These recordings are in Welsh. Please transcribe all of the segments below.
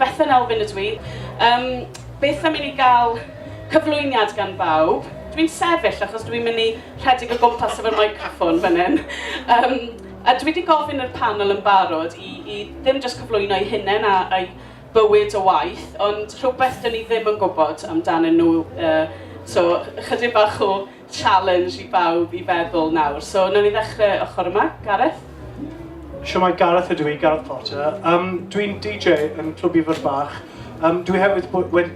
Bethan Elfyn ydw i. Yym, beth am i ni gael cyflwyniad gan bawb? Dw i'n sefyll achos dw i'n mynd i rhedeg o gwmpas efo'r meicroffon fan hyn. Yym, a dwi 'di gofyn i'r panel yn barod i i ddim jyst cyflwyno'u hunain a a'u bywyd o waith, ond rhywbeth 'dyn ni ddim yn gwybod amdanyn nhw, yy so ychydig bach o... challenge i bawb i feddwl nawr. So, wnawn ni ddechrau ochr yma. Gareth? Siwmai, Gareth ydw i, Gareth Potter. Um, Dwi'n DJ yn Clwb Ifor Bach. Um, dwi hefyd, wed,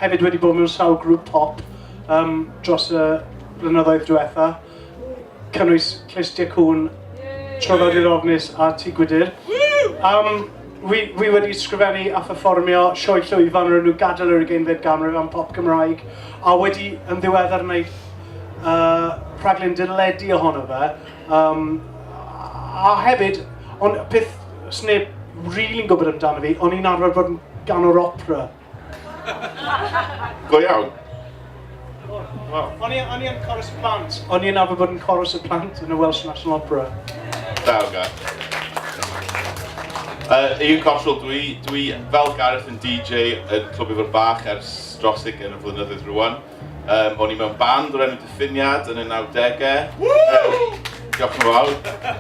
hefyd wedi bod mewn sawl grŵp pop um, dros y blynyddoedd diwetha. Cynnwys Clust Diacwn, Trofod i'r Ofnus a Tŷ Gwydir. Um, Wi, wi wedi sgrifennu a pherfformio sioe llwyfan o'r enw Gadael yr Ugeinfed Ganrif am Pop Gymraeg, a wedi yn ddiweddar wneud uh, rhaglen deledu ohono fe. Um, a hefyd, ond peth sneb rili'n gwybod amdano fi, o'n i'n arfer bod yn ganwr opera. Go iawn. O'n i o'n i yn chorus y plant. O'n i yn arfer bod yn chorus y plant yn y Welsh National Opera. Da, oga. Uh, Ian Cottrell, dwi, dwi fel Gareth yn DJ yn Clwb Ifor Bach ers dros yn y flynyddoedd rwan. Um, o'n i mewn band o'r enw Diffiniad yn y 90au. Um, diolch yn fawr.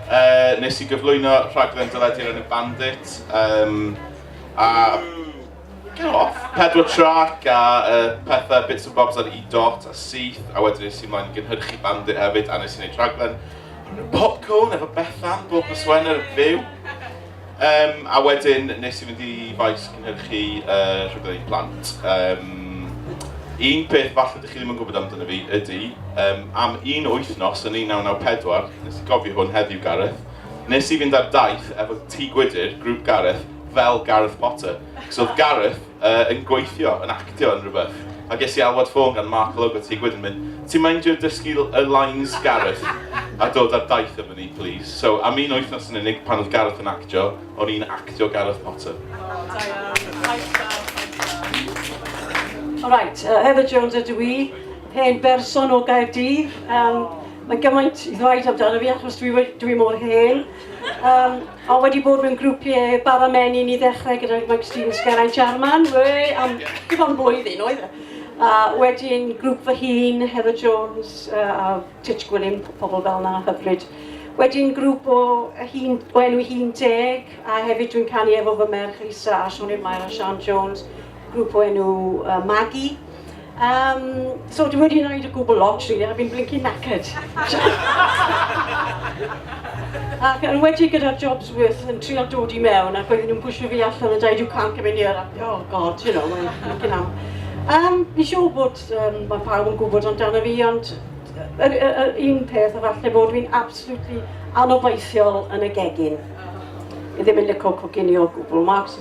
Uh, nes i gyflwyno rhaglen dyledi'r enw Bandit. Um, a Go off. Pedwar trac a uh, pethau, bits and bobs ar e-dot a syth, a wedyn nes i mlaen i gynhyrchu bandit hefyd, a nes i wneud rhaglen popcorn efo Bethan, bob y swen ar y fyw. Um, a wedyn nes i fynd i faes cynhyrchu uh, rhaglen i plant. Um, Un peth falle ydych chi ddim yn gwybod amdano fi ydy, um, am un wythnos yn 1994, nes i gofio hwn heddiw Gareth, nes i fynd ar daith efo Tŷ Gwydir, grŵp Gareth, fel Gareth Potter, cos oedd Gareth uh, yn gweithio, yn actio yn rhywbeth. A ges i alwad ffôn gan Mark Logo ti gwyd yn mynd, ti'n meindio dysgu y lines Gareth a dod ar daith efo ni, please. So, am un wythnos yn unig pan oedd Gareth yn actio, o'n i'n actio Gareth Potter. All right, uh, Heather Jones ydw i, hen berson o Gaerdydd. Um, Mae gymaint i ddweud amdano fi achos dwi, dwi mor hen. Um, A wedi bod mewn grwpiau bara menyn i ddechrau gyda Magazine Sgeraint Jarman, we, am dim ond blwyddyn oedd e. A wedyn grŵp fy hun, Heather Jones uh, a Titch Gwilym, pobl fel yna hyfryd. Wedyn grŵp o hun, o enw hun deg, a hefyd dwi'n canu efo fy merch Lisa a Sioned Mair a Sian Jones. grŵp o enw uh, Magi. Um, so dwi wedi gwneud y gwbl lot rili, really, a fi'n blinking knackered. ac yn wedi gyda'r jobs worth yn trial dod i mewn ac oedden nhw'n pwysio fi allan yn dweud you can't come in here. Ac, oh god, you know, mae'n blinking am. Um, fi siŵr bod um, mae pawb yn gwybod amdano fi, ond yr, yr, yr un peth o falle bod fi'n absolutely anobeithiol yn y gegin. I ddim yn licio coginio o gwbl, Marks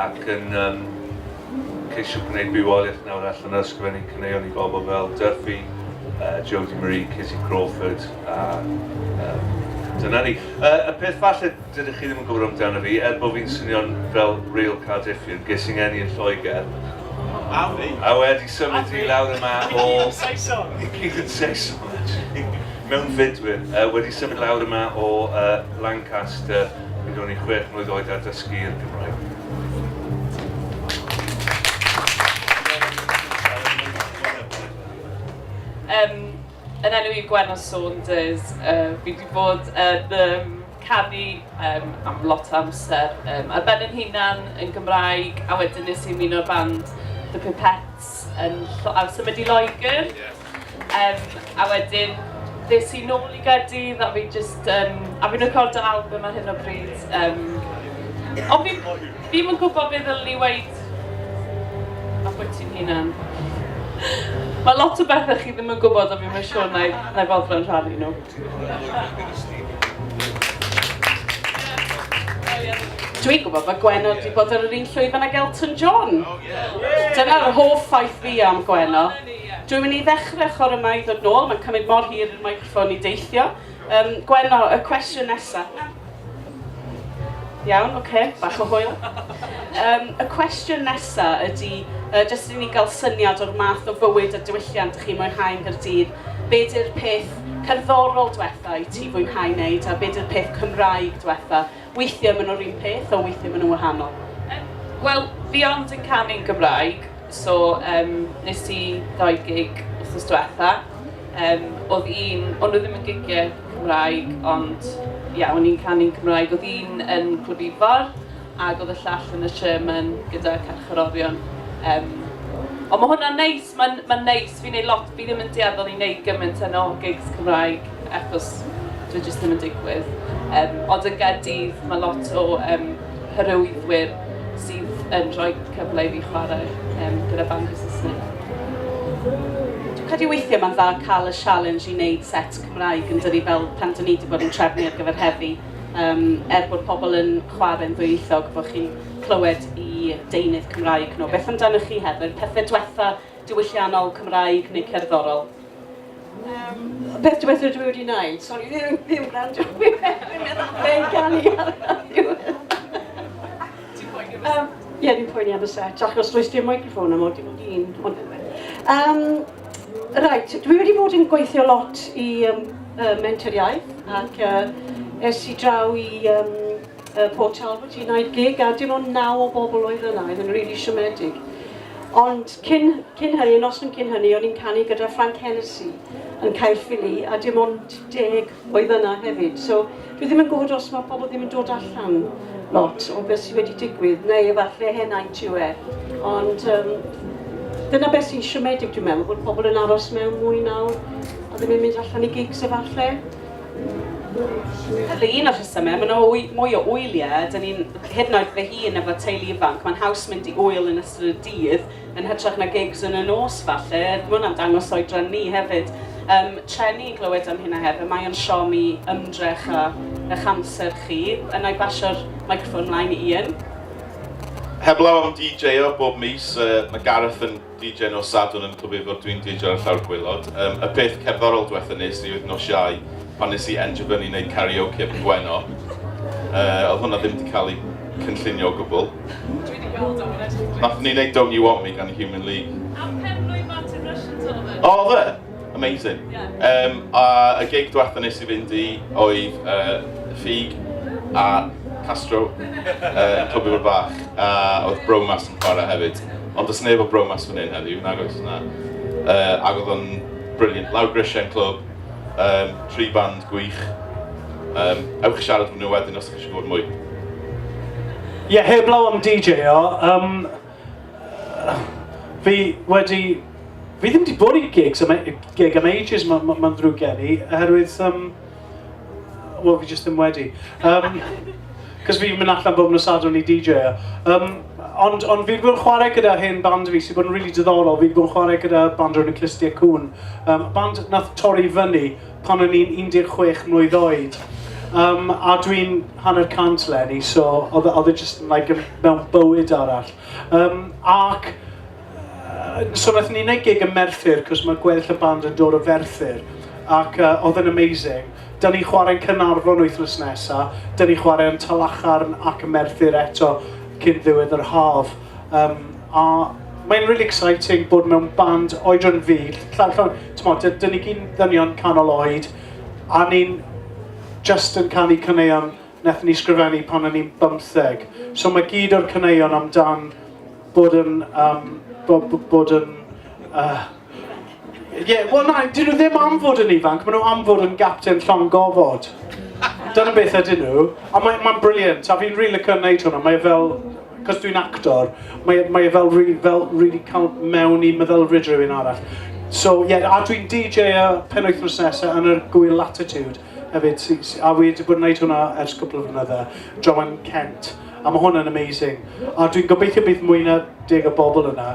ac yn yym ceisio gwneud bywoliaeth nawr allan o ysgrifennu caneuon i bobl fel Duffy, uh, Jodie Marie, Kitty Crawford a um, dyna ni. Uh, y peth falle dydych chi ddim yn gwybod amdano fi, er bod fi'n swnio'n fel real Cardiffian, ges i'n enni yn Lloegr. A fi. A wedi symud i lawr yma o... I gyd yn Saeson. I gyd yn Saeson, actually. Mewnfudwyr, wedi symud lawr yma o Lancaster pryd o'n i'n chwech mlwydd oed a dysgu i'r Gymraeg. Yym, yn enw i Gwenno Saunders, fi wedi bod yn canu am lot o amser ar ben yn hunan yn Gymraeg a wedyn nes i ymuno'r band The Pipettes yn Lloegr, symud i Loegr. Yym a wedyn ddes i nôl i Gaerdydd a fi jyst yn... a fi'n recordo albym ar hyn o bryd yym ond fi fi'm yn gwybod be ddylwn i weud ambwyty'n hunan. Mae lot o bethau chi ddim yn gwybod a fi'm yn siŵr na i na i foddran rhannu nhw. Dwi'n gwybod bod Gwenno wedi bod ar yr un llwyfan ag Elton John. Dyna'r hoff ffaith fi am Gwenno. Dwi'n mynd i ddechrau chwarae mai ddod nôl, mae'n cymryd mor hir i'r meicroffon i deithio. Yym, Gwenno, y cwestiwn nesaf. Iawn, oce, bach o hwyl. Um, y cwestiwn nesaf ydy, uh, jyst i ni gael syniad o'r math o fywyd a diwylliant ych chi'n mwynhau yn Gyrdydd, be di'r peth cerddorol diwetha i ti fwynhau wneud a be di'r peth Cymraeg diwetha Weithiau maen nhw'r un peth a weithiau maen nhw'n wahanol. Yym, wel, fi ond yn canu'n Gymraeg, so yym wnes i ddau gig wythnos diwetha'. Yym, oedd un... o'n nhw ddim yn gigiau Cymraeg, ond ie, o'n i'n canu'n Gymraeg. Oedd un yn Clwb Ifor, ac oedd y llall yn y Sherman gyda Carcharorion. Yym, ond ma' hwnna'n neis. Mae'n mae'n neis, fi'n neud lot, fi ddim yn dueddol i neud gymaint yno o gigs Cymraeg achos dyw e jyst ddim yn digwydd. Yym ond yn Gaerdydd mae lot o yym hyrwyddwyr sydd yn rhoi cyfle i fi chwarae yym gyda bandiau Saesneg. Dwi'n credu weithiau mae'n dda cael y sialens i neud set Cymraeg yn dydi fel pan dyn ni wedi bod yn trefnu ar gyfer heddi yym er bod pobl yn chwarae'n ddwyieithog bod chi'n clywed i deunydd Cymraeg nhw. Beth amdanoch chi, Heather? Pethau diwetha diwylliannol Cymraeg neu cerddorol? Um, beth diwetha dwi wedi wneud? Sori, ddim, ddim gwrando. Fi'n meddwl fe'n gael i ar Um, Ie, ni'n poeni am y set, achos does dim microffon am oed i fod un. Um, right, dwi wedi bod yn gweithio lot i um, uh, mentoriaeth ac uh, es i draw i um, Yy Port Talbot i wneud gig a dim ond naw o bobl oedd yna, oedd yn rili siomedig. Ond cyn cyn hynny, y noson cyn hynny, o'n i'n canu gyda Frank Hennessy yn Caerffili a dim ond deg oedd yna hefyd. So dwi ddim yn gwybod os mae pobl ddim yn dod allan lot o beth sydd wedi digwydd, neu efallai henaint yw e. Ond um, dyna beth sy'n siomedig dwi'n meddwl, bod pobl yn aros mewn mwy nawr a ddim yn mynd allan i gigs efallai. Felly, un o'r rhesymau, mae yna mwy o wyliau, dyn ni'n, hyd yn oed fy hun efo teulu ifanc, mae'n haws mynd i wyl yn ystod y dydd yn hytrach na gigs yn y nos falle, mae hwnna'n dangos oedran ni hefyd. Um, trenu i glywed am hynna hefyd, mae o'n siom i ymdrech a eich amser chi, yna i basio'r microffon mlaen i Ian. Heblaw am DJ-o bob mis, uh, mae Gareth yn DJ nos Sadwrn yn Clwb Ifor dwi'n DJ ar llawr gwaelod. Um, y peth cerddorol diwetha nes i oedd nos Iau pan nes i endio fyny wneud karaoke yn Gweno. Uh, oedd hwnna ddim wedi cael ei cynllunio o gwbl. Dwi wedi gweld o'n edrych. Nath ni wneud Don't You Want Me gan y Human League. A pen blwydd Martin Rushton, Sullivan. O, fe? Amazing. Um, a y gig diwetha nes i fynd i oedd uh, Ffug a Castro uh, Clwb Ifor Bach a oedd Bromas yn chwarae hefyd. Ond does neb o Bromas fan hyn heddiw, nag oes yna. Uh, ac oedd o'n brilliant. Lawr Grisiau yn clwb, um, tri band gwych. Um, ewch i siarad nhw wedyn os ydych chi eisiau gwybod mwy. Ie, yeah, heblaw am DJ o, um, Fi wedi... Fi ddim wedi bod i gigs am a- gig am ages, ma- ma- mae'n ddrwg gen i, oherwydd yym... wel, fi jyst ddim wedi. Yym, 'cos fi'n mynd allan bob nos Sadwrn i DJo. Yym, ond ond fi 'di bod yn chwarae gyda hen band fi sy'n bod yn rili diddorol, fi 'di bod yn chwarae gyda band o'r enw Clustiau Cŵn, yym band wnaeth torri fyny pan o'n i'n 16 mlwydd oed, um, a dwi'n hanner cant lenni, so oedd e, e just like, mewn bywyd arall. Um, ac, uh, so nath ni'n neud gig yn Merthyr, cos mae gweddill y band yn dod o Ferthyr, ac uh, oedd yn amazing. Da ni chwarae'n Cynarfon wythnos nesa, da ni chwarae'n Talachairn ac yn Merthyr eto cyn ddiwedd yr haf. Um, a mae'n really exciting bod mewn band oedran fi, llawn llawn, ti'n modd, dyn ni gyn ddynion canol oed, a ni'n just yn canu caneuon nath ni sgrifennu pan o'n i'n bymtheg. So mae gyd o'r caneuon amdan bod yn, um, bod, bod yn uh, Ie, yeah, wel na, dyn nhw ddim am fod yn ifanc, maen nhw am fod yn gapten llon gofod. Dyna beth ydyn nhw, a mae'n ma briliant, a fi'n rili cael gwneud hwnna, mae e fel, cos dwi'n actor, mae, e, mae e fel, re, fel really cael mewn i meddylfryd rhywun arall. So, ie, yeah, a dwi'n DJ y pen wythnos nesaf yn yr gwyl Latitude hefyd, a fi wedi bod yn gwneud hwnna ers cwpl o flynydde, Joan Kent. A mae hwn yn amazing. A dwi'n gobeithio bydd mwy na deg o bobl yna.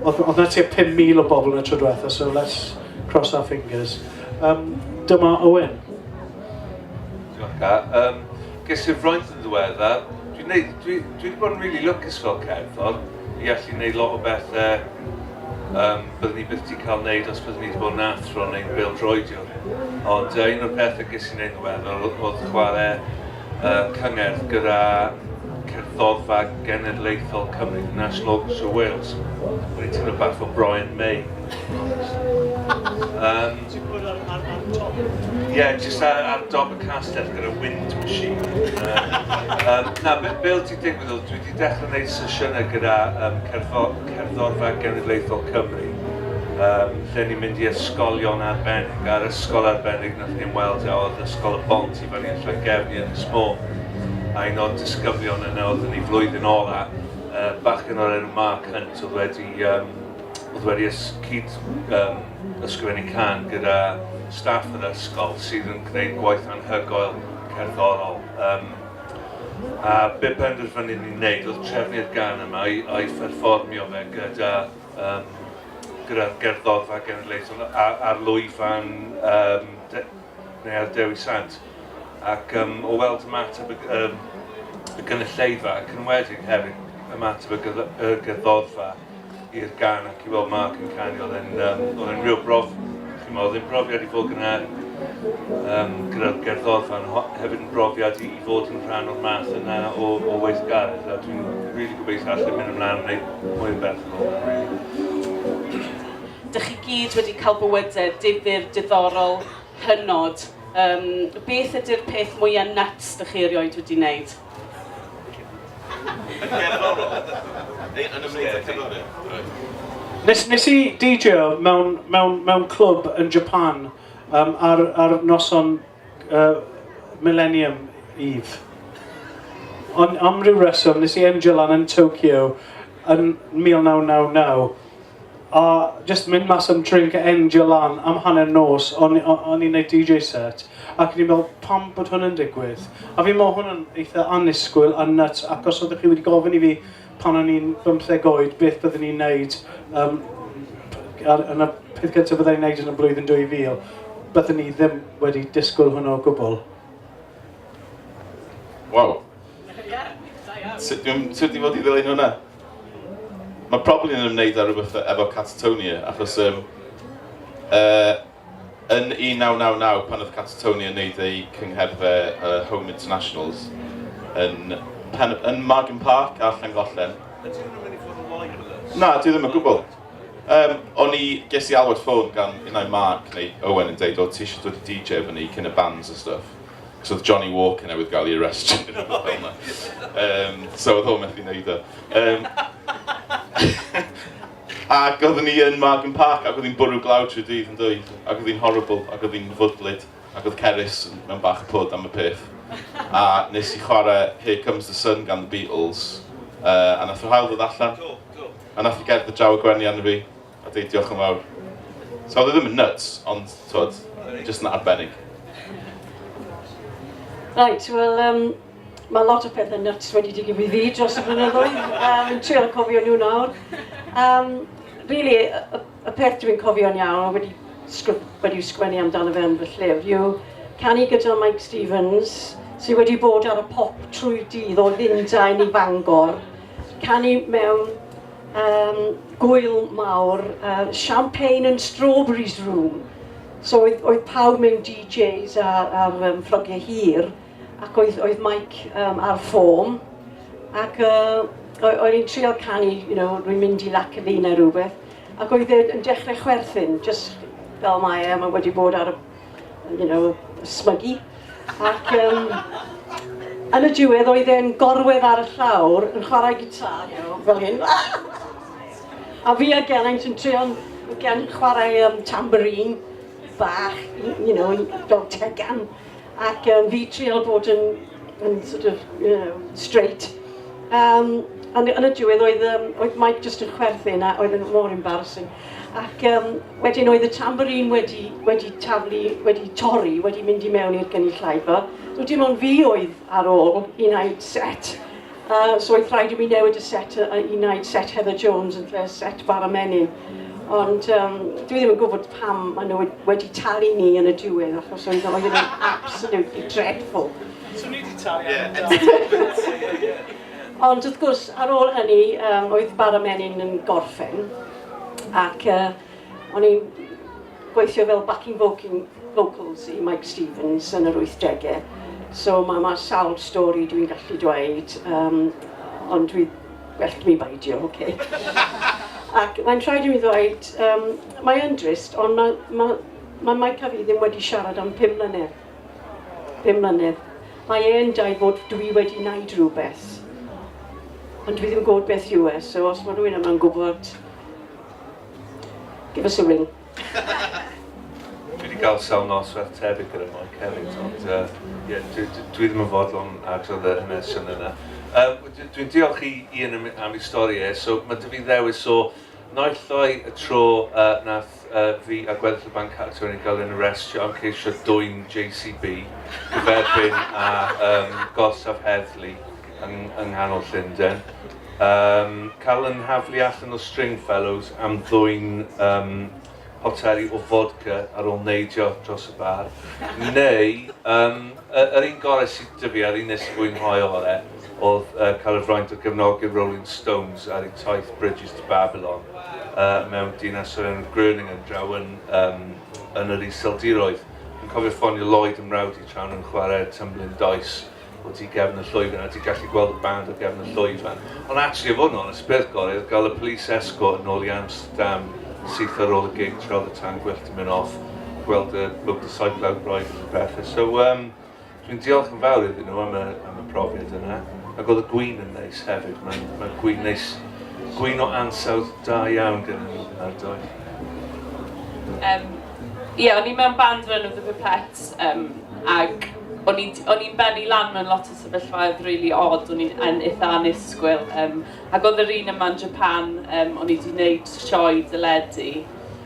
Oedd, oedd na tua 5,000 o bobl yn y tro diwetha, so let's cross our fingers. Um, dyma Owen. Diolch, um, ges i'r fraint yn ddiwedda. Dwi'n dwi, dwi wedi bod yn really lwcus fel cerddor i allu gwneud lot o bethau um, byddwn ni byth wedi cael gwneud os byddwn ni wedi bod yn athro neu'n bildroediwr. Ond uh, un o'r pethau ges i'n gwneud yn ddiweddar oedd chwarae y cyngerdd gyda Cerddorfa Genedlaethol Cymru, The National Orchestra of Wales. Wedi teimlo bach o Brian May. Um, Ie, yeah, jyst ar, ar dob y castell gyda wind machine. Uh, um, na, be, be oedd ti'n digwydd oedd, dwi wedi dechrau gwneud sesiynau gyda um, cerddor, cerddorfa genedlaethol Cymru, um, lle ni'n mynd i ysgolion arbennig, a'r ysgol arbennig nath ni'n weld a oedd ysgol y bont O'n i yn Lloegr, i Ynys Môn, a un o'r disgyblion yna oedd yn ei flwyddyn ola, bachgen o'r enw Mark Hunt oedd wedi yym oedd wedi ys- cyd yym ysgrifennu cân gyda staff yr ysgol sydd yn gwneud gwaith anhygoel cerddorol yym a be penderfynu ni wneud oedd trefnu'r gân yma a'i a'i pherfformio fe gyda yym gyda'r gerddorfa genedlaethol a- ar lwyfan yym de- neu ar Dewi Sant, ac um, o weld ymateb y, um, y gynulleidfa, ac yn wedig hefyd ymateb y, gydd y gyddodfa i'r gan ac i weld Mark yn canu, oedd e'n um, oedd e'n rhyw brof, chi'n meddwl, oedd e'n brofiad i fod gyda, um, gyda'r gerddodfa, ond hefyd yn brofiad i, i fod yn rhan o'r math yna o, o weithgaredd, a dwi'n rili really gobeithio allan mynd ymlaen yn gwneud mwy o beth yn ôl, really. Dych chi gyd wedi cael bywyde difyr, diddorol, hynod. Um, beth ydy'r peth mwyaf nuts dych chi erioed wedi wneud? Nes, nes i DJ mewn, mewn, mewn clwb yn Japan um, ar, ar noson uh, Millennium Eve. Ond am ryw reswm, nes i endio lan yn Tokyo yn 1999 A jyst mynd mas am drink a endio lan am hanner nos, o'n i'n gwneud DJ set, ac o'n i'n meddwl pam bod hwn yn digwydd? A fi'n meddwl hwn yn eitha annisgwyl a nuts, ac os oeddech chi wedi gofyn i fi pan o'n i'n bymtheg oed beth byddwn i'n gwneud um, ar, yn y peth gyntaf byddai'n gwneud yn y blwyddyn 2000, byddwn ni ddim wedi disgwyl hwnnw o gwbl. Wow. Sut dwi'n sut i fod i ddilyn hwnna? Mae probably yn ymwneud â rhywbeth efo Catatonia, achos um, uh, yn 1999 pan oedd Catatonia yn neud eu cyngherddau uh, Home Internationals yn, pen, yn Margam Park a Llangollen. Na, dwi ddim yn gwybod. Um, o'n i, ges i alwad ffôn gan unau Mark neu Owen yn dweud, o ti eisiau dod i DJ efo ni cyn y bands a stuff. Cos oedd Johnny Walker newydd gael ei arrestio. um, so oedd o'n methu wneud o. Um, ac oeddwn ni yn Margam Park ac oedd hi'n bwrw glaw trwy dydd yn dweud. Ac oedd hi'n horrible ac oedd hi'n fwdlyd ac oedd Cerys mewn bach o pwd am y peth. A nes i chwarae Here Comes the Sun gan The Beatles. Uh, a nath yr hael ddod allan. A nath i gerdd y draw y gwenni arno fi. Ydy, diolch yn fawr. So oedd e ddim yn nuts, ond tod, jyst yn arbennig. Right, wel, um, mae lot o pethau nuts wedi digwydd i fi dros y blynyddoedd. Um, yn trio cofio nhw nawr. Um, really, y, y peth dwi'n cofio'n iawn, wedi, wedi sgwennu amdano fe yn fy llyfr, yw canu gyda Mike Stevens, sydd wedi bod ar y pop trwy dydd o Lundain i Fangor, canu mewn Yym, gŵyl mawr, yy, champagne and strawberries room. So oedd, oedd pawb mewn DJs a, ar um, ffrogiau hir, ac oedd, oedd Mike um, ar ffôn, ac uh, oedd hi'n trio canu, you know, rwy'n mynd i lac y fi neu rhywbeth, ac oedd e yn dechrau chwerthin, just fel mae e, mae wedi bod ar y you know, smygu. Ac um, yn y diwedd oedd e'n gorwedd ar y llawr yn chwarae gitar, you know, fel hyn. a fi a Geraint yn trio gan chwarae um, tambourine bach, you know, fel tegan. Ac um, fi trio bod yn, yn sort of, you know, straight. Um, yn, yn y diwedd oedd, um, oedd Mike just yn chwerthin a oedd yn mor embarrassing. Ac um, wedyn oedd y tamborin wedi, wedi taflu, wedi torri, wedi mynd i mewn i'r gynulleidfa. So dim ond fi oedd ar ôl i wneud set. Uh, so oedd rhaid i mi newid y set uh, i wneud set Heather Jones yn lle set Bara Menyn. Ond um, dwi ddim yn gwybod pam maen nhw wedi talu ni yn y diwedd, achos oedd o'n absolutely dreadful. So ni wedi talu yeah. Ond wrth gwrs, ar ôl hynny, um, oedd bara menyn yn gorffen, ac uh, o'n i'n gweithio fel backing vocal, vocals i Mike Stevens yn yr 80au. So mae ma sawl stori dwi'n gallu dweud, um, ond dwi well mi baidio, oce. Okay. ac mae'n rhaid i mi ddweud, um, mae'n drist, ond mae ma, ma Mike a fi ddim wedi siarad am 5 mlynedd. Ddim mlynedd. Mae e yn dweud bod dwi wedi wneud rhywbeth. Ond dwi ddim yn gwybod beth yw e, so os mae rhywun yma'n gwybod, give us a ring. dwi wedi cael sawl nos fel tebyg gyda Moy Kerrins, ond uh, yeah, dwi, dwi, dwi ddim yn fodlon adrodd yr hynny'r yna. Uh, dwi'n diolch i Ian am ei stori e, so mae dy fi ddewis o Naill ai y tro yy nath yy fi a gweddill y banc cadw yn ei gael yn arestio am ceisio dwyn JCB, gyferbyn â yym gorsaf heddlu yng yng nghanol Llunden. Yym cael yn nhaflu allan o Stringfellows am ddwyn yym poteli o fodca ar ôl neidio dros y bar, neu yym y- yr un gore sy 'da fi, a'r un nes i fwynhau ore', o'dd yy cael y fraint o gefnogi'r Rolling Stones ar eu taith Bridges to Babylon yy mewn dinas o'r enw Groningen draw yn yym yn yr Iseldiroedd. Dwi'n cofio ffonio Lloyd, 'y mrawd i, tra o'n nhw'n chwarae'r tumbling dice. o tu gefn y llwyfan a ti'n gallu gweld y band o gefn y llwyfan. Ond actually, i fod yn onest, peth gorau oedd gael y police escort yn ôl i Amsterdam syth ar ôl y gig tra oedd y tan gwyllt yn mynd off, gweld y Look the Cycle Out Royal a bethau. So, um, dwi'n diolch yn fawr iddyn nhw am y, am y profiad yna. Ac oedd y gwyn yn neis hefyd. Mae'n ma gwyn neis, gwyn o ansawdd da iawn gen nhw ar doi. Um, Ie, yeah, o'n i mewn band rhan o The Pipettes, um, ac O'n i o'n i'n bennu lan mewn lot o sefyllfaoedd rili od, o'n i'n yn itha annisgwyl yym ac oedd yr un yma'n Japan yym o'n i 'di wneud sioe deledu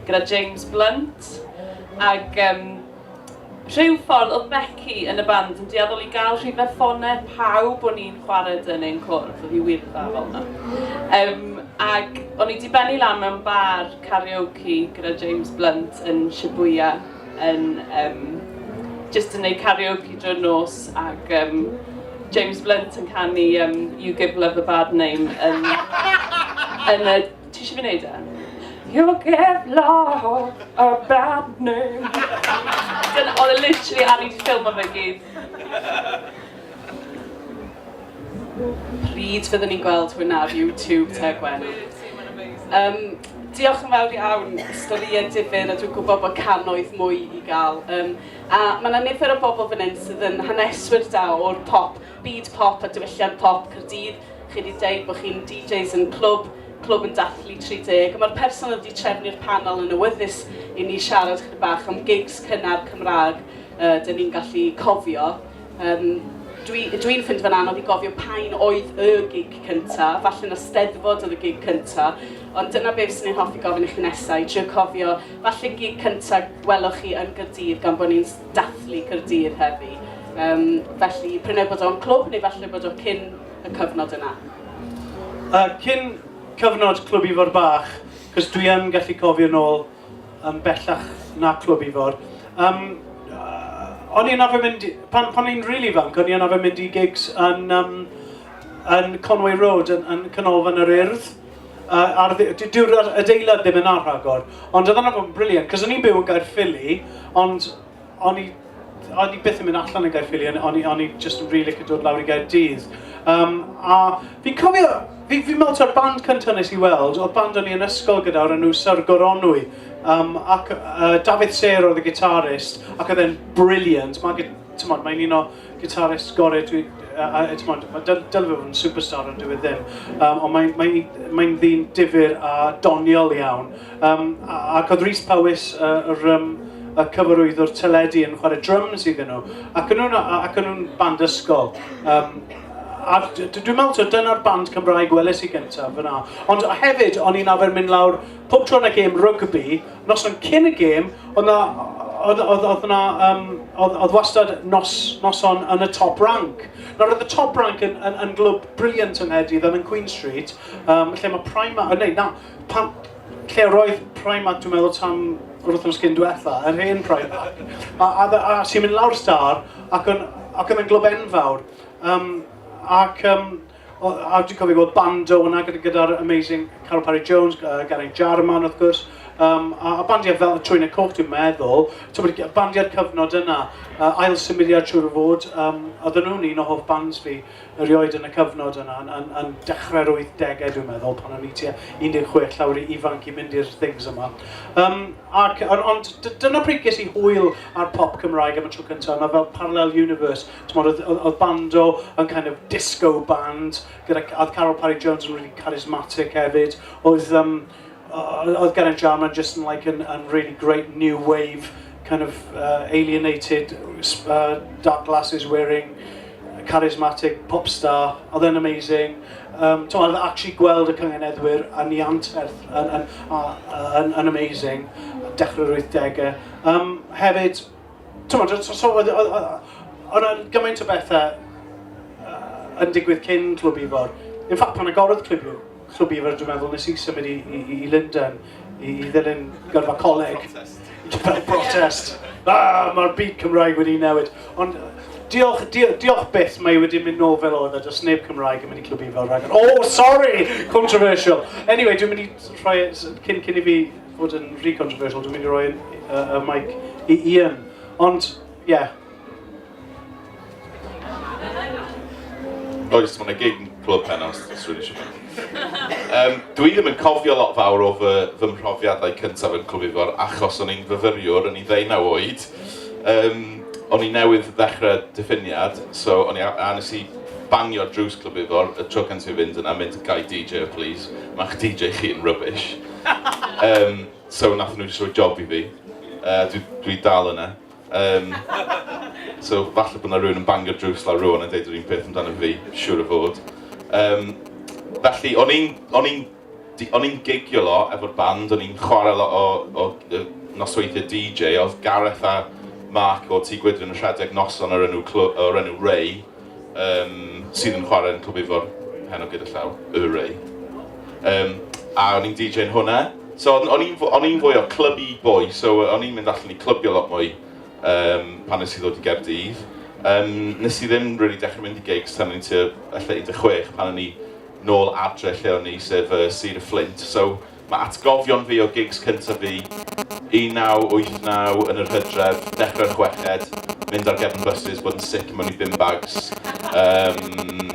gyda James Blunt ac yym rhyw ffordd oedd Becky yn y band yn dueddol i gael rhyw fath ffonau pawb o'n i'n chwarae 'da neu'n cwrdd, oedd hi wir dda fel 'na. Yym ac o'n i 'di bennu lan mewn bar karaoke gyda James Blunt yn Shibuya. yn um, just yn neud karaoke drwy'r nos ac um, James Blunt yn canu um, You Give Love a Bad Name yn, yn y... Ti eisiau fi wneud e? You give love a bad name. Dyna, oedd e literally ar i ffilm o fe gyd. Pryd fyddwn ni'n gweld hwn ar YouTube te Gwenno? Um, diolch yn fawr iawn, storïau difyr a dwi'n gwybod bod canoedd mwy i gael. Um, a mae yna nifer o bobl fan hyn sydd yn haneswyr da o'r pop, byd pop a diwylliant pop Cyrdydd. Chi wedi dweud bod chi'n DJs yn clwb, clwb yn dathlu 30. Mae'r person wedi trefnu'r panel yn awyddus i ni siarad chyda bach am gigs cynnar Cymraeg uh, dyn ni'n gallu cofio. Um, Dwi'n dwi, dwi ffind fan anodd i gofio pa'n oedd y gig cynta, falle na steddfod oedd y gig cynta, ond dyna beth sy'n ei hoffi gofyn i chi nesau, i trio cofio, falle gig cynta weloch chi yn Gyrdydd gan bod ni'n dathlu Gyrdydd heddi. Um, felly, prynau bod o'n clwb neu falle bod o cyn y cyfnod yna. Uh, cyn cyfnod clwb ifor bach, cos dwi yn gallu cofio nôl Yn bellach na Clwb Ifor. Yym o'n i yn arfer mynd... pan o'n i'n rili fanc o'n i yn arfer mynd i gigs yn yym yn Conway Road yn yn Canolfan yr Urdd yy ar ddi-... dy- dyw'r adeilad ddim yna rhagor ond oedd hwnna'n briliant cos o'n i'n byw yn Gaerffili ond O'n i, o'n i byth yn mynd allan yn Gaerffili, o'n i, o'n i just yn really licio dod lawr i Gaerdydd. Um, a fi'n cofio, fi'n fi meddwl ta'r band cyntaf nes i weld, oedd band o'n i yn ysgol gyda o'r enw Sir Goronwy. Um, ac uh, Dafydd Ser oedd y gitarist, ac oedd e'n brilliant. Mae'n, ti'n modd, mae'n un o Guitarist gorau dwi... a timod, mae dyl- dyle fe fod yn superstar ond dyw e ddim. Yym ond mae mae mae'n ddyn difyr a doniol iawn. Yym a- ac oedd Rhys Powys yy yr yym y cyfarwyddwr teledu yn chwarae dryms iddyn nhw ac o'n nhw'n a- a- ac o'n nhw'n band ysgol yym a d- d- dwi'n meddwl taw dyna'r band Cymraeg weles i gyntaf fan'na. Ond hefyd o'n i'n arfer mynd lawr pob tro 'na gêm rygbi Noson cyn y gêm, oedd 'na... oedd... oedd... oedd 'na yym... oedd... oedd wastad nos... noson yn y Top Rank. Nawr oedd y Top Rank yn... yn... yn glwb brilliant yng Nghaerdydd yn y Queen Street yym lle mae Primark... o neu na... pan... lle yr oedd Primark dwi'n meddwl tan yr wythnos cyn diwetha', yr hen Primark. A... a... a ti'n mynd lawr y Star ac oedd... ac oedd e'n glwb enfawr yym ac yym... O, a dwi'n cofio gweld bando yna gyda'r gyda amazing Carol Parry Jones, uh, Gary Jarman wrth gwrs, um, a, a bandiau fel y Trwyna Coch dwi'n meddwl, tywed, bandiau'r cyfnod yna, uh, ail symudiad siwr o fod, um, oedden nhw'n un o hoff bands fi erioed yn y cyfnod yna, yn, yn, yn dechrau'r 80au dwi'n meddwl, pan o'n i tua 16 llawr i ifanc i mynd i'r things yma. Um, ac, ond dyna pryd ges i hwyl ar pop Cymraeg am y tro cyntaf, yna fel Parallel Universe, Timod, oedd, oedd, oedd Bando yn kind of disco band, gyda, oedd Carol Parry Jones yn really charismatic hefyd, oedd, um, oedd Geraint Jarman just yn, like, yn, yn really great new wave, kind of uh, alienated, uh, dark glasses wearing, charismatic pop star, oedd e'n amazing. Um, Ti'n meddwl, actually gweld y cyngenedwyr yn ei anterth yn, yn, yn, yn amazing, dechrau'r 80au. Um, hefyd, Timod, so, so oedd, oedd, oedd, oedd gymaint o bethau uh, yn digwydd cyn Clwb Ifor. Yn ffact, pan agorodd Clwb, Clwb Ifor, dwi'n meddwl, nes i symud i, i, i London i, i ddilyn gyrfa coleg. Protest. Protest. Ah, mae'r byd Cymraeg wedi newid. Ond diolch, diolch, diolch byth, mae wedi mynd nôl fel oedd, a does neb Cymraeg yn mynd i Clwb Ifor. Oh, sorry! Controversial. Anyway, dwi'n mynd i rhoi, cyn, cyn i fi fod yn rhy controversial, dwi'n mynd i roi y, y, y mic i Ian. Ond, ie. Yeah. Oes, mae'n y gig yn clwb pen os dwi'n eisiau mynd. Um, dwi ddim yn cofio lot fawr o fy, fy mhrofiadau cyntaf yn Clwb Ifor achos o'n i'n fyfyriwr, o'n i ddeunaw oed. Um, o'n i newydd ddechrau diffiniad, so o'n i a nes i bangio drws Clwb Ifor, y tro cyntaf i fynd yna, mynd gai DJ please, mae'ch DJ chi'n rubbish. um, so nath nhw jyst rhoi job i fi. Uh, dwi, dwi dal yna. Um, so falle bod yna rhywun yn bangio drws lawr rhywun yn dweud yr un peth amdano fi, siwr o fod. Um, felly, o'n i'n o'n i'n o'n i'n gigio lo efo'r band, o'n i'n chwarae lo o, o, o nosweithiau DJ, oedd Gareth a Mark o Tŷ Gwydryn yn rhedeg noson o'r enw, o'r enw Ray, um, sydd yn chwarae yn Clwb Ifor, hen o gyda llaw, y Ray. Um, a o'n i'n DJ'n hwnna. So o'n i'n fwy o clybu boi, so o'n i'n mynd allan i clybio lot mwy um, pan nes i ddod i Gerdydd. Um, nes i ddim really dechrau mynd i gigs tan o'n i'n tua 16 pan o'n i nôl adre lle o'n i, sef uh, Sir y Flint. So Mae atgofion fi o gigs cyntaf fi, 1989 yn yr hydref, dechrau'r chweched, mynd ar gefn buses, bod yn sic mewn i bin bags, yym,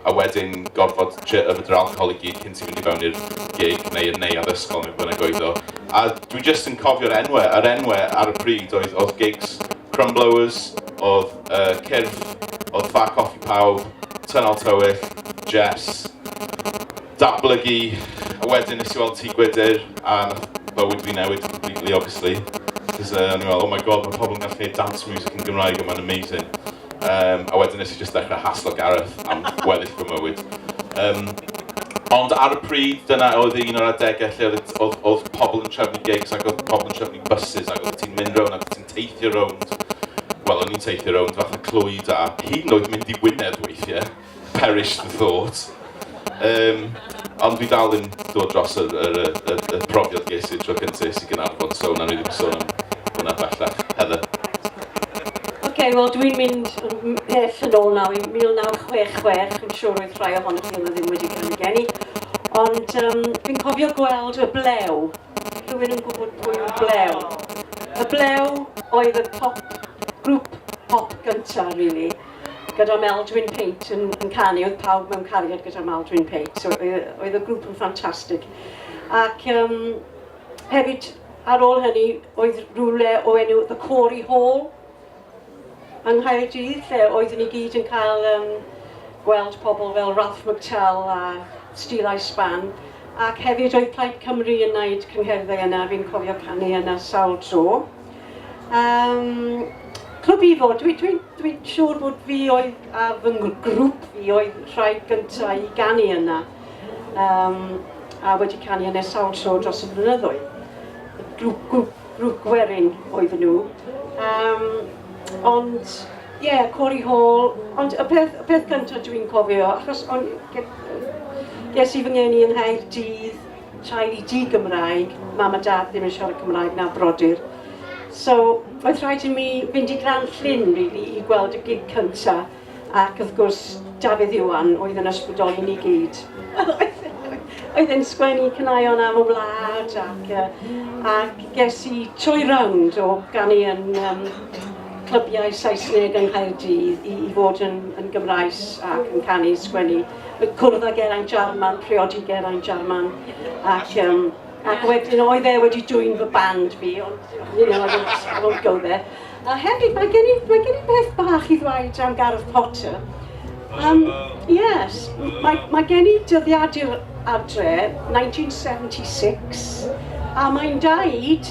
a wedyn gorfod trio yfed yr alcohol i gyd cyn ti fynd i fewn i'r gig neu y neuadd ysgol neu be bynnag oedd o. A dwi jyst yn cofio'r enwau, yr enwau ar y pryd oedd, oedd gigs Crumblowers, oedd yy Cyrff, oedd Ffa Coffi Pawb, Tynal Tywyll, Jess. datblygu a wedyn nes i weld Tŷ Gwydr a nath bywyd fi newid completely obviously cos uh, o'n i'n meddwl oh my god mae pobl yn gallu gwneud dance music yn Gymraeg a mae'n amazing um, a wedyn nes i just dechrau haslo Gareth am gweddill fy mywyd um, ond ar y pryd dyna oedd un o'r adegau lle oedd, oedd, oedd pobl yn trefnu gigs ac oedd pobl yn trefnu buses ac oedd ti'n mynd rown ac oedd ti'n teithio rownd wel o'n i'n teithio rownd fath o clwyd a hyd yn oed mynd i Wynedd weithiau Perished the thought. Yym, ond fi dal ddim dod dros yr yr yy y y profiad ges i y tro cynta es i Gaernarfon, so wnawn ni ddim sôn am hwnna bellach. Heather. Ocê, wel dwi'n mynd pell yn ôl nawr i 1966, fi'n siŵr oedd rhai ohonoch chi yma ddim wedi cael eu geni, ond yym, fi'n cofio gweld y blew. Rhywun yn gwybod pwy yw'r blew? Y blew oedd y pop, grŵp pop gyntaf, rili. gyda Meldwyn Pate yn, yn canu, oedd pawb mewn cariad gyda Meldwyn Pate, so oedd y grŵp yn ffantastig. Ac um, hefyd, ar ôl hynny, oedd rhywle o enw The Corey Hall yng Nghaerdydd, lle oeddwn ni gyd yn cael um, gweld pobl fel Ralph McTell a Steel Eye Span, ac hefyd oedd Plaid Cymru yn wneud cyngherddau yna, fi'n cofio canu yna sawl tro. Um, clwb Ifo, dwi'n dwi, dwi siŵr bod fi oedd a fy grŵp fi oedd rhai gyntaf i ganu yna um, a wedi canu yna sawl tro dros y blynyddoedd. Grŵp, grŵp, grŵp gwerin oedd nhw. Um, ond, ie, yeah, Corey Hall, ond y peth, y peth gyntaf dwi'n cofio, achos on, ges i fy ngeni yng Nghaerdydd, rhain i di Gymraeg, mam a dad ddim yn siarad Cymraeg na brodyr. So oedd rhaid i mi fynd i Gran Llyn really, i gweld y gig cynta ac wrth gwrs Dafydd Iwan oedd yn ysbrydoli ni gyd. oedd yn sgwennu cynaion am y wlad ac, uh, ac ges i trwy rownd o ganu yn um, clybiau Saesneg yng Nghaerdydd i, i fod yn, yn Gymraes ac yn canu, sgwennu. cwrdd â Geraint Jarman, priodi Geraint Jarman, ac, um, ac wedyn oedd e wedi dwy'n fy band fi, ond you know, I won't, I won't go there. A hefyd, mae gen i, mae gen i beth bach i ddweud am Gareth Potter. Um, yes, mae, mae gen i dyddiadur adre, 1976, a mae'n daid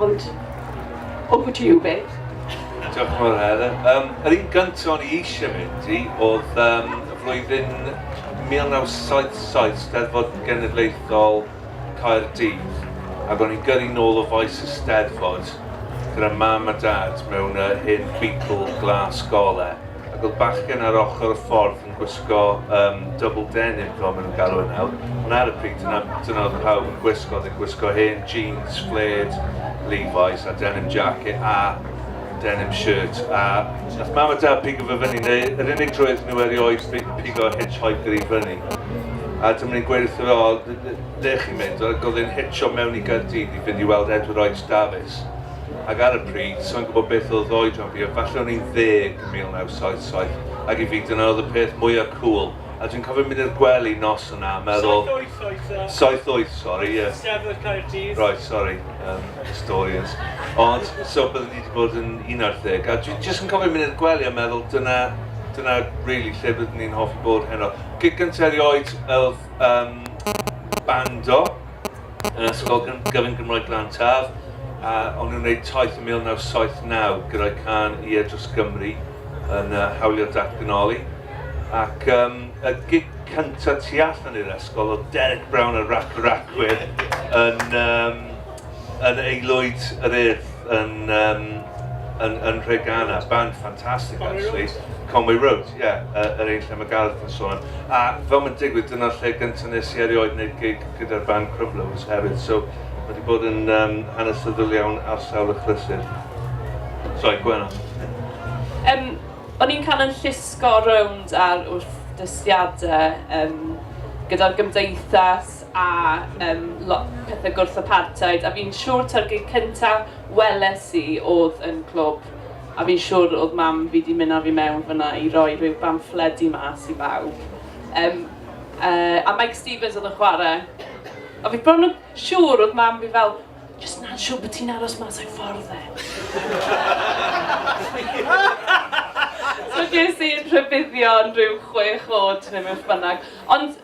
Ond, over to you, Beth. Diolch yn fawr, Helen. Um, yr un gyntaf o'n i eisiau mynd i oedd um, y flwyddyn 1977, Steddfod Genedlaethol Caerdydd, ac o'n i'n gyrru nôl o faes y Steddfod gyda mam a dad mewn uh, hen Beetle glas gole. Ac oedd bachgen ar ochr y ffordd yn gwisgo um, double denim, fel maen nhw'n galw e nawr. Ond ar y pryd, dyna, dyna oedd pawb yn gwisgo. Oedd yn gwisgo hen jeans, fled, Levi's a denim jacket a denim shirt. A nath mam a dad pigo fe fyny, neu yr unig drwy iddyn nhw erioed pigo hitchhiker i fyny. A dyma ni'n gweud wrth o, le chi'n mynd? Ac oedd e'n hitcho mewn i Gyrdydd i fynd i weld Edward Oes Davies. ac ar y pryd, sai'n gwybod beth oedd oed rhan fi, ond falle o'n i'n ddeg yn 1977, ac i fi dyna oedd y peth mwya' cŵl, a dwi'n cofio mynd i'r gwely nos yna a meddwl... Saith wyth oedd o. Saith wyth, sori, ie. Steddfod Caerdydd. Reit, sori, yym, historians. Ond, so bydde fi 'di bod yn un ar ddeg, a dwi jyst yn cofio mynd i'r gwely a meddwl dyna, dyna rili lle byddwn i'n hoffi bod heno. Gig gynta' erioed oedd yym bando. yr Ysgol Gyfun Gymraeg Glan Taf, a o'n nhw'n wneud taith yn 1979 gyda'i cân i e dros Gymru yn uh, hawlio datganoli. Ac um, y gig cyntaf tu allan i'r ysgol oedd Derek Brown a Rac y Racwyr yn, um, yn aelwyd yr urdd. Yn yym yn yn Nhreganna, band ffantastig actually, Conway Road, ie, yy yr un lle mae Gareth yn sôn am. A fel mae'n digwydd, dyna'r lle gyntaf nes i erioed wneud gig gyda'r band Crumblowers hefyd, so mae wedi bod yn um, hanesyddol iawn ar sawl achlysur. Sorry, Gwenno. Um, o'n i'n cael yn llusgo rownd ar wrth dystiadau um, gyda'r gymdeithas a yym lot pethe gwrthapartheid a fi'n siwr ta'r gig cynta weles i odd yn clwb a fi'n siwr odd mam fi di myn a fi mewn fynna i roi ryw bamffledi mas i bawb yym yy a Meic Stevens odd yn chware a fi bron yn siwr odd mam fi fel jyst nad siwr bo ti'n aros mas a'i ffordd e so ges i rhybuddion ryw chwech o'd ne beth bynnag ond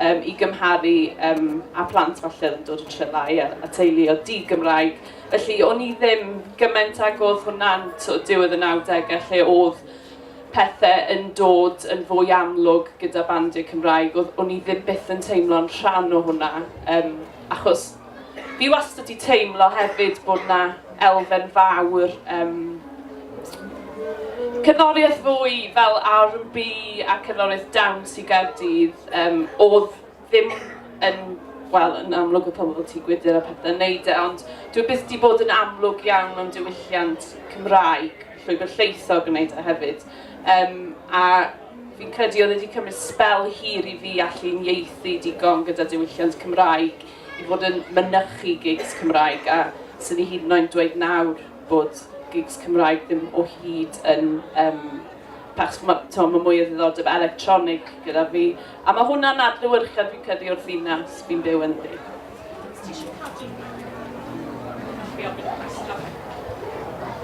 Yym, i gymharu yym â phlant falle oedd yn dod o Trelái a a teuluoedd di-Gymraeg. Felly o'n i ddim gymaint ag oedd hwnna'n sort of diwedd y nawdegau lle oedd pethe yn dod yn fwy amlwg gyda bandiau Cymraeg. Oedd... o'n i ddim byth yn teimlo'n rhan o hwnna yym achos Fi wastad 'di teimlo hefyd bod 'na elfen fawr um, cerddoriaeth fwy fel R&B a cerddoriaeth dawns i Gaerdydd um, oedd ddim yn wel, yn amlwg o pobl ti gwydr a pethau yn neud e, ond dwi byth wedi bod yn amlwg iawn mewn diwylliant Cymraeg, llwybr lleithog yn neud e hefyd. Um, a fi'n credu oedd wedi cymryd spel hir i fi allu'n ieithu digon gyda diwylliant Cymraeg i fod yn mynychu gigs Cymraeg a 'swn i hyd yn oed dweud nawr bod gigs Cymraeg ddim o hyd yn um, pach, ma, to, mae mwy o ddiddordeb electronic gyda fi a mae hwnna'n adlywyrchiad fi'n credu o'r ddinas fi'n byw yn ddi.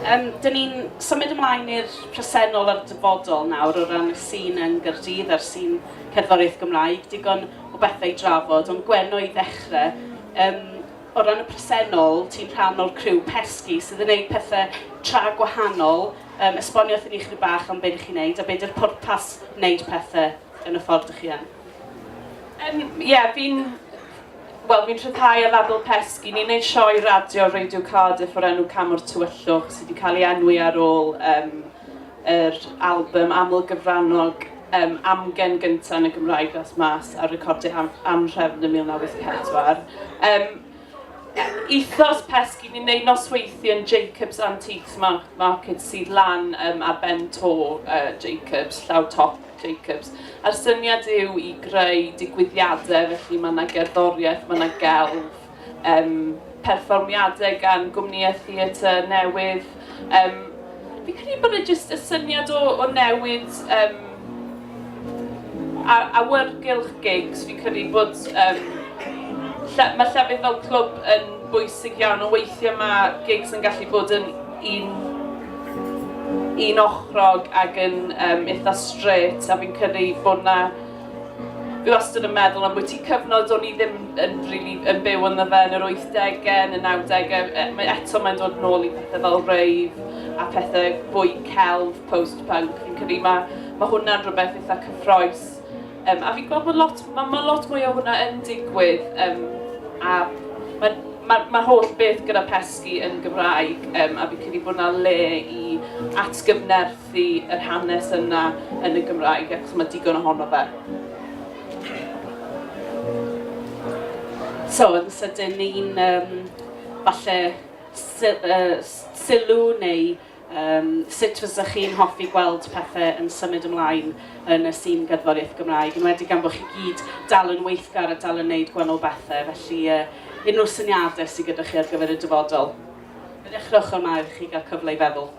Um, dyn ni'n symud ymlaen i'r presennol a'r dyfodol nawr o ran y sîn yn Gyrdydd a'r sîn cerddoriaeth Gymraeg. Digon o bethau i drafod, ond Gwenno i ddechrau, yym, o ran y presennol, ti'n rhan o'r criw pesgi sydd yn gwneud pethau tra gwahanol, um, esbonio wrthyn ni chyd bach am beth chi'n gwneud a beth yw'r pwrpas wneud pethau yn y ffordd ydych chi yn? Ie, um, yeah, fi'n Wel, fi'n rhyddhau ar label Pesgi. Ni'n gwneud sioe radio Radio Cardiff o'r enw Camwr Tywyllwch sydd wedi cael ei enwi ar ôl um, yr albym aml-gyfrannog um, amgen gyntaf yn y Gymraeg ddaeth mas ar recordiau am, anhrefn yn 1984. Um, ethos pesgi, ni'n neud nosweithio yn Jacobs Antiques Market sydd lan um, ar ben to uh, Jacobs, llaw top Jacobs. A'r syniad yw i greu digwyddiadau, felly mae yna gerddoriaeth, mae yna gelf, Yym, perfformiadau gan gwmnïau theatr newydd. Yym, fi'n credu bod e jyst y syniad o o newid yym a- awyrgylch gigs. Fi'n credu bod yym lle- ma' llefydd fel clwb yn bwysig iawn, ond weithiau ma' gigs yn gallu bod yn un unochrog ac yn yym eitha' strêt, a fi'n credu bod 'na Dwi wastad yn meddwl am bwyty cyfnod do'n i ddim yn really yn byw ynddo fe yn yr 80au, yn y 90au. E, mae eto mae'n dod nôl i pethau fel rave a pethau bwy celf, post-punk. Fi'n credu mae, mae hwnna'n rhywbeth eitha cyffroes. Um, a fi'n gweld bod lot, mae, ma lot mwy o hwnna yn digwydd. Um, a mae'n mae'r ma holl beth gyda pesgi yn Gymraeg um, a fi'n credu bod yna le i atgyfnerth Felly, yr hanes yna yn y Gymraeg, achos mae digon ohono fe. So, yn sydyn, ni'n um, falle sylw neu um, sut fysa chi'n hoffi gweld pethau yn symud ymlaen yn y sîn gerddoriaeth Gymraeg, yn wedi gan bod chi gyd dal yn weithgar a dal yn wneud gwannol bethau, felly uh, unrhyw syniadau sydd gyda chi ar gyfer y dyfodol. Fe ddechrowch yma i chi gael cyfle i feddwl.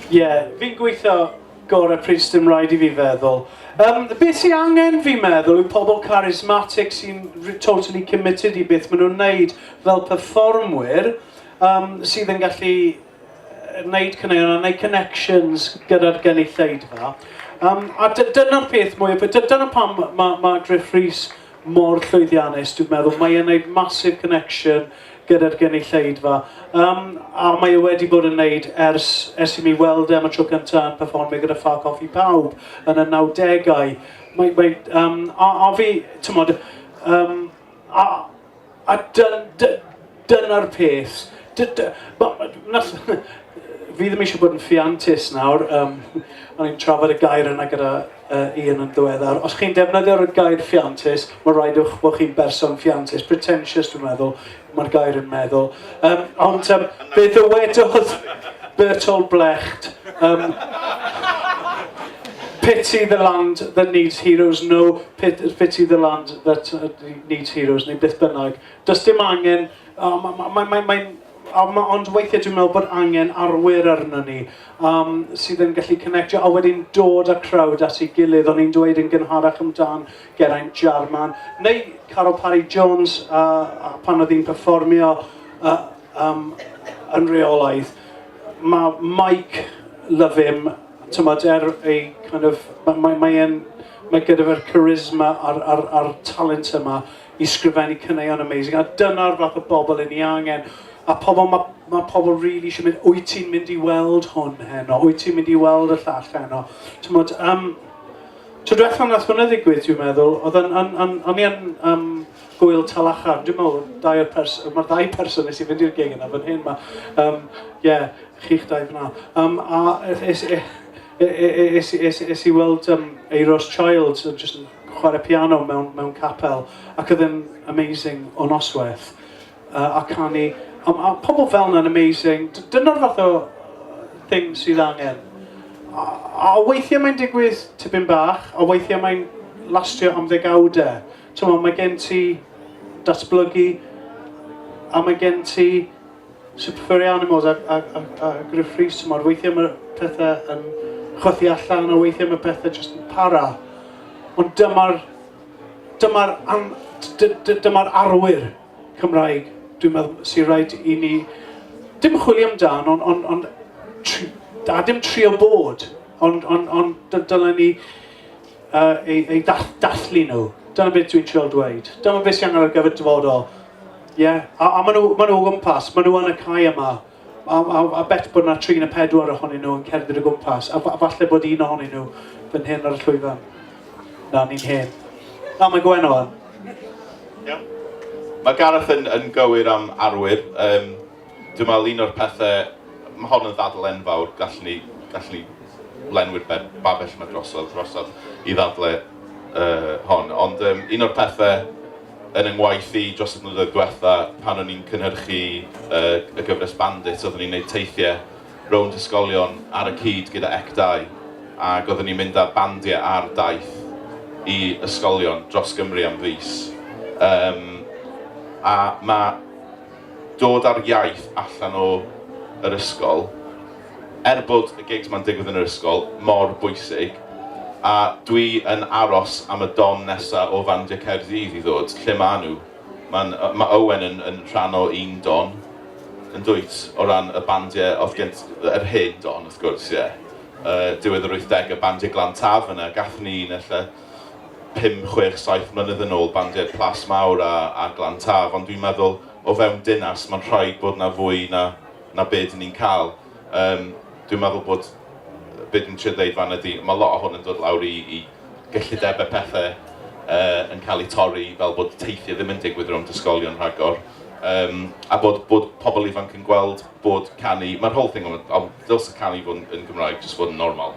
Ie, yeah, fi'n gweithio gorau pryd sydd yn rhaid i fi feddwl. Um, beth sy'n angen fi'n meddwl yw pobl charismatic sy'n totally committed i beth maen nhw'n neud fel performwyr um, sydd yn gallu wneud cyneuon a wneud connections gyda'r gynulleidfa. Um, a dyna'r peth mwy, dyna pam mae ma Griff Rhys mor llwyddiannus, dwi'n meddwl. Mae e'n gwneud massive connection gyda'r gynulleidfa. Um, a mae e wedi bod yn wneud ers, ers i mi weld e am y tro cyntaf yn performio gyda Ffa Coffi Pawb yn y 90au. Mae, mae, um, a, a fi, ti'n modd, um, a, a dyn, dyn, dyna'r peth. Dy, dy, ba, na, fi ddim eisiau bod yn ffiantus nawr, um, o'n i'n trafod y gair yna gyda uh, un yn ddiweddar. Os chi'n defnyddio'r gair ffiantus, mae'n rhaid o'ch bod chi'n berson ffiantus. Pretentious, dwi'n meddwl, mae'r gair yn meddwl. Um, ond um, fe ddywedodd Bertol Blecht, um, pity the land that needs heroes, no pity the land that uh, needs heroes, neu beth bynnag. Does dim angen, oh, mae'n ma, ma, ma, ma A ma'... ond weithiau dwi'n meddwl bod angen arwyr arnon ni yym sydd yn gallu connectio a wedyn dod â crowd at ei gilydd. O'n i'n dweud yn gynharach amdan Geraint Jarman neu Caryl Parry Jones a a pan oedd hi'n perfformio yy yym yn reolaidd. Ma' Mike, love him, timod er ei kind of... mae mae mae e'n... mae gyda fe'r charisma a'r a'r a'r talent yma. i sgrifennu caneuon amazing a dyna'r fath o bobl i ni angen a pobl ma' ma' pobl rili isio mynd wyt ti'n mynd i weld hwn heno wyt ti'n mynd i weld y llall heno t'mod um, Tro diwetha nath hwnna ddigwydd, dwi'n meddwl, oedd yn, yn, yn, o'n i yn um, gwyl talachar, dwi'n meddwl, dau o'r pers, mae'r ddau person nes i fynd i'r gig yna fan hyn, mae, um, yeah, chi'ch dau fyna. Um, a es, es, es, es, es, es i weld um, Eiros Childs, just yn chwarae piano mewn, mewn capel ac oedd yn amazing o noswaith uh, a canu a, a pobl fel yna'n amazing dyna'r fath o thing sydd angen a, a weithiau mae'n digwydd tipyn bach a weithiau mae'n lastio am ddegawdau Tyma, mae gen ti datblygu a mae gen ti Super iawn i Moz a, a, a, a Griff Rhys, timod, weithiau mae pethau yn chwythu allan a weithiau mae pethau jyst yn para. Ond dyma'r dyma dyma arwyr Cymraeg, dwi'n meddwl, sy'n rhaid i ni, dim chwilio amdan, ond on, on, tri, a dim trio bod, ond on, on, dylen ni uh, ei, ei dathlu nhw. Dyna beth dwi'n trio dweud. Dyma beth sy'n angen ar gyfer dyfodol. Ie, yeah. a, a maen nhw, ma nhw o gwmpas, maen nhw yn y cae yma. A, a, a bet bod yna tri neu pedwar ohonyn nhw yn cerdded o gwmpas, a, a falle bod un ohonyn nhw fan hyn ar y llwyfan. Na, ni'n hen. Na, mae Gwen o'n. Yeah. Mae Gareth yn, yn gywir am arwyr. Um, dwi'n meddwl un o'r pethau, mae hon yn ddadl enfawr, gallwn ni, gallwn ni lenwi'r babell mae drosodd, drosodd i ddadle uh, hon. Ond um, un o'r pethau Yn yng ngwaith i dros y blynyddoedd diwetha' pan o'n i'n cynhyrchu y y gyfres Bandit oeddwn i'n neud teithie rownd ysgolion ar y cyd gyda ec dau ag oeddwn i'n mynd â bandie ar daith i ysgolion dros Gymru am fis yym a ma' dod â'r iaith allan o yr ysgol Er bod y gigs 'ma'n digwydd yn yr ysgol mor bwysig, a dwi yn aros am y don nesa o fandiau Caerdydd i ddod, lle ma' nhw? Ma'n yy ma' Owen yn yn rhan o un don, yndwyt? O ran y bandiau o'dd gen t- yr hen don wrth gwrs, ie. Yy diwedd yr wythdegau, bandiau Glan Taf yna, gathon ni un ella pum, chwech, saith mlynedd yn ôl, bandiau Plas Mawr a a Glan Taf, ond dwi'n meddwl o fewn dinas ma'n rhaid bod 'na fwy na na be dyn ni'n cael. Yym, dwi'n meddwl bod be dwi'n trio ddeud fan ydy, mae lot o hwn yn dod lawr i, i gyllidebau pethau uh, yn cael eu torri fel bod teithiau ddim yn digwydd rhwng ysgolion rhagor. Um, a bod, bod pobl ifanc yn gweld bod canu, mae'r whole thing, ond dylse canu fod yn, yn Gymraeg jyst fod yn normal.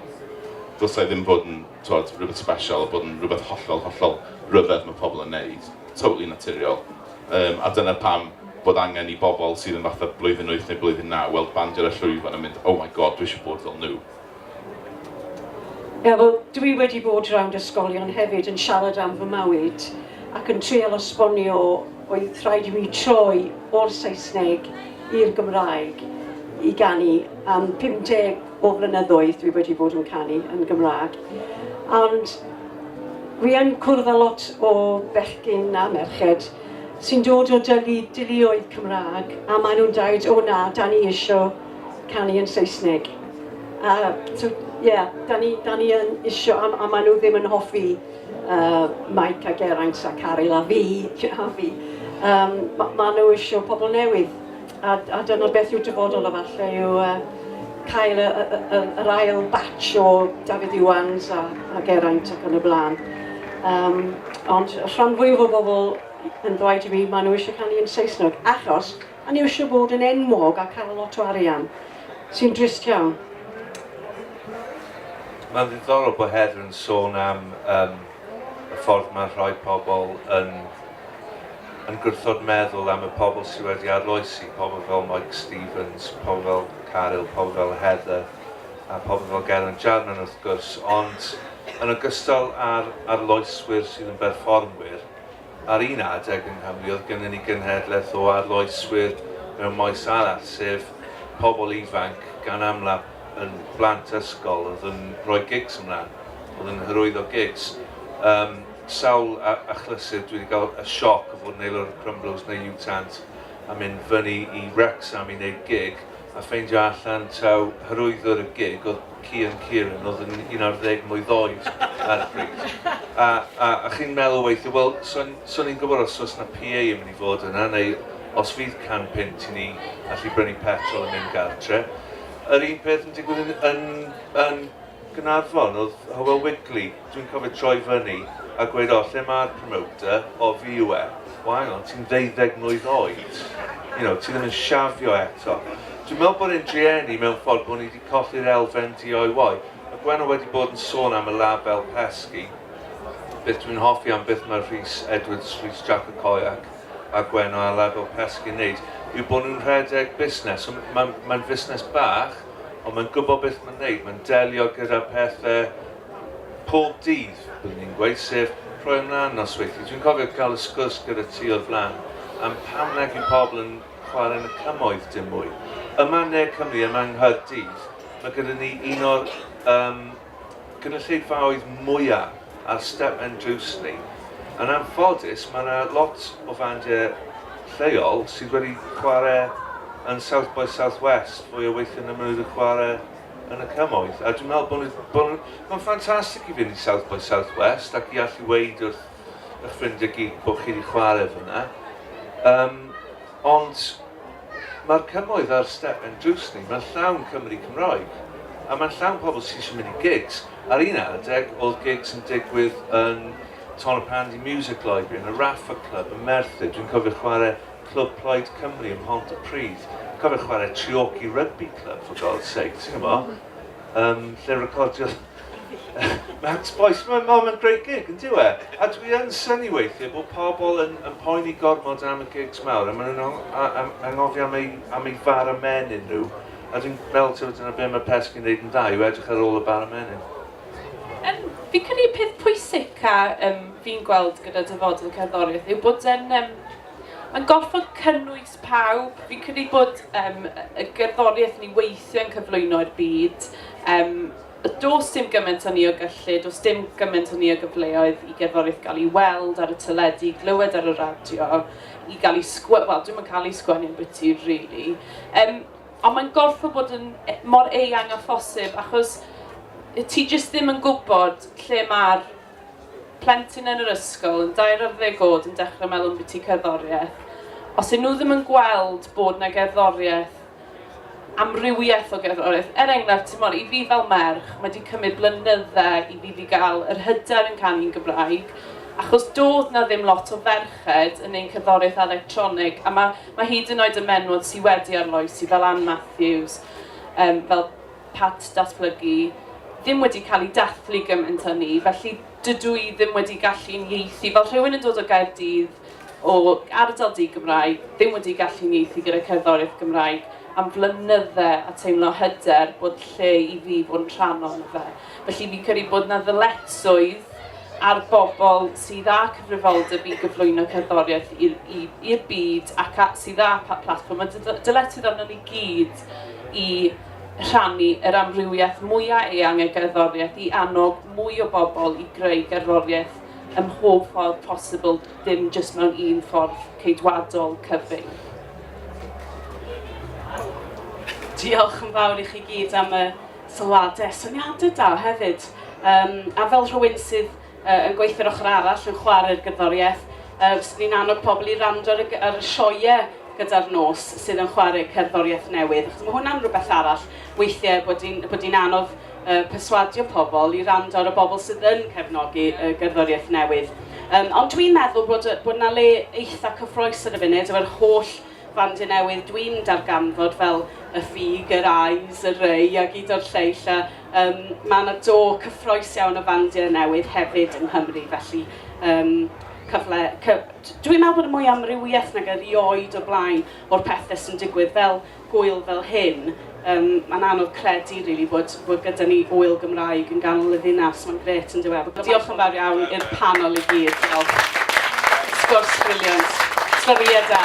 Dylse ddim fod yn tywed, rhywbeth special, bod yn rhywbeth hollol, hollol rhyfedd mae pobl yn neud. Totally naturiol. Yym, a dyna pam bod angen i bobl sydd yn fatha blwyddyn wyth neu blwyddyn naw weld band ar y llwyfan a mynd, oh my God, dwi eisiau bod fel nhw. Ie, wel, dwi wedi bod rownd ysgolion hefyd yn siarad am fy mywyd ac yn treial esbonio oedd rhaid i mi troi o'r Saesneg i'r Gymraeg i ganu am 50 O flynyddoedd dwi wedi bod yn canu yn Gymraeg ond wi yn cwrdd â lot o bechgyn a merched sy'n dod o dylu deuluoedd Cymraeg a maen nhw'n dweud o na, da ni isio canu yn Saesneg a so ie, da ni, da ni yn isio a, a maen nhw ddim yn hoffi uh, Mike a Geraint a Caryl a fi, a fi. Um, ma, maen nhw isio pobl newydd. A, a dyna beth yw'r dyfodol efallai, yw uh, cael y, y, y, yr ail batch o Dafydd Iwans a, a Geraint ac yn y blaen. Um, ond rhan fwyaf o bobl yn dweud i mi, maen nhw eisiau canu yn Saesneg, achos maen nhw eisiau bod yn enwog a cael lot o arian, sy'n drist iawn. Mae'n ddiddorol bod Heather yn sôn am um, y ffordd mae rhai pobl yn yn gwrthod meddwl am y pobl sydd wedi arloesi, pobl fel Mike Stevens, pobl fel Caryl, pobl fel Heather, a pobl fel Geraint Jarman wrth gwrs, ond yn ogystal â'r arloeswyr sydd yn berfformwyr, Ar un adeg yng Nghymru oedd gynnon ni genhedlaeth o arloeswyr mewn maes arall, sef pobl ifanc, gan amla yn blant ysgol, oedd yn rhoi gigs ymlan, oedd yn hyrwyddo gigs. Yym, sawl a- achlysur dwi 'di ga'l y sioc o fod yn aelod o Crumblers neu U-Tant a mynd fyny i Wrecsam i neud gig, a ffeindio allan taw hyrwyddwr y gig oedd Cian Kieran oedd yn un ar ddeg mlwydd oed ar y pryd. A, a, a chi'n meddwl weithio, wel, so ni'n gwybod os oes na PA yn mynd i fod yna, neu os fydd can pint i ni allu brynu petrol yn mynd gartre. Yr un peth yn digwydd yn, yn, yn Gynarfon, oedd Hywel Wigley, dwi'n cofio troi fyny a gweud, o, lle mae'r promoter, o, fi yw e. Wael, ond ti'n ddeuddeg mlwydd oed, you know, ti ddim yn siafio eto. Dwi'n meddwl bod e'n drueni mewn ffordd bod ni Colli'r elfen DIY. Mae Gwenno wedi bod yn sôn am y label pesgi. Beth dwi'n hoffi am beth mae Rhys Edwards, Rhys Jac y Coiac, a Gwenno a label pesgi yn wneud yw bod nhw'n rhedeg busnes. So, mae'n mae fusnes bach, ond mae'n gwybod beth mae'n wneud. Mae'n delio gyda pethau pob dydd, byddwn ni'n gweud, sef rhoi ymlaen nosweithiau. Dwi'n cofio cael y sgwrs gyda ti o'r flaen am pam nag yw pobl yn chwarae yn y cymoedd dim mwy. Yma yn Ne Cymru, yma yng Nghaerdydd, mae gyda ni un o'r um, gynulleidfaoedd mwyaf ar step and drws ni. Yn anffodus, mae yna lot o fandiau lleol sydd wedi chwarae yn South by Southwest fwy o weithio na maen nhw wedi chwarae yn y cymoedd. A dwi'n meddwl bod nhw... Mae'n ffantastig i fynd i South by Southwest ac i allu weid wrth eich ffrindiau gig bod chi 'di chwarae fan'na. Yym, ond mae'r cymoedd ar step ein drws ni, mae'n llawn Cymry Cymraeg, a mae'n llawn pobl sydd eisiau mynd i gigs. Ar un adeg, oedd gigs yn digwydd yn Ton y Pandy Music Library, yn y Raffa Club, yn Merthyr. Dwi'n cofio chwarae Clwb Plaid Cymru ym Mhont y Pridd. Dwi'n cofio chwarae Treorci Rugby Club, for God's sake, ti'n gwybod? Yym, lle recordiodd Max Boyce, mae'n ma ma great gig, yn diwe. A dwi yn syni weithiau bod pobl yn, yn poeni gormod am y gigs mawr, a maen nhw'n anghofio am ei, am ei far y menyn nhw. A dwi'n meddwl, ti'n dyna beth mae Pesg yn neud yn dda, yw edrych ar ôl y bar y menyn. Um, fi'n credu peth pwysig a um, fi'n gweld gyda dyfodol cerddoriaeth yw bod yn... Um, mae'n gorfod cynnwys pawb, fi'n credu bod um, y gerddoriaeth ni weithio yn cyflwyno i'r byd, um, does dim gymaint o ni o gyllid, does dim gymaint o ni o gyfleoedd i gerddoriaeth gael ei weld ar y teledu, glywed ar y radio, i gael ei sgwennu, wel dwi'n cael ei sgwennu yn bwyty, really. Um, ond mae'n gorfod bod yn e, mor eang a phosib, achos ti jyst ddim yn gwybod lle mae'r plentyn yn yr ysgol yn dair ar ddeg oed yn dechrau meddwl ambiti cerddoriaeth, os y'n nhw ddim yn gweld bod 'na gerddoriaeth, amrywiaeth o gerddoriaeth, er enghraifft, timod, i fi fel merch, mae 'di cymryd blynydde i fi 'di gael yr hyder yn canu yn Gymraeg, achos doedd 'na ddim lot o ferched yn neud cerddoriaeth electronig, a ma' ma' hyd yn oed y menwod sy' wedi arloesi, fel Ann Matthews, yym fel Pat, Datblygu, ddim wedi cael ei dathlu gymaint â ni, felly dydw i ddim wedi gallu unieithu, fel rhywun yn dod o Gaerdydd, o ardal di-Gymraeg, ddim wedi gallu unieithu gyda cerddoriaeth Gymraeg am flynydde a teimlo hyder bod lle i fi fod yn rhan ohono fe. Felly fi'n credu bod yna ddyletswydd ar bobl sydd â cyfrifoldeb i gyflwyno cerddoriaeth i'r byd ac sydd â platfform, mae dyletswydd arno ni gyd i rhannu yr amrywiaeth mwya' eang o gerddoriaeth i annog mwy o bobl i greu gerddoriaeth ym mhob ffordd posibl dim jyst mewn un ffordd ceidwadol cyfyng. Diolch yn fawr i chi gyd am y sylwadau a syniadau da hefyd. Um, a fel rhywun sydd yn gweithio yr ochr arall yn chware'r gerddoriaeth. Yy fyswn ni'n annog pobl i rando ar y, ar y sioe gyda'r nos sydd yn chwarae cerddoriaeth newydd. Achos mae hwnna'n rhywbeth arall weithiau bod hi'n bod hi'n anodd uh, perswadio pobl i rando ar y bobl sydd yn cefnogi uh, gerddoriaeth newydd. Um, ond dwi'n meddwl bod, bod yna le eitha cyffroes ar y funud efo'r holl fandiau newydd dwi'n darganfod fel y ffug, yr ais, y rei a gyd o'r lleill a, Yym, mae yna do cyffroes iawn o fandiau newydd hefyd yng Nghymru, felly yym, cyfle... Cy... Dwi'n meddwl bod yn mwy o amrywiaeth nag erioed o'r blaen o'r pethe sy'n digwydd fel gŵyl fel hyn. Yym, mae'n anodd credu rili bod bod gyda ni ŵyl Gymraeg yn ganol y ddinas, mae'n grêt yndyw e? Diolch yn fawr iawn i'r panel i gyd, sgwrs briliant, sgoriau da.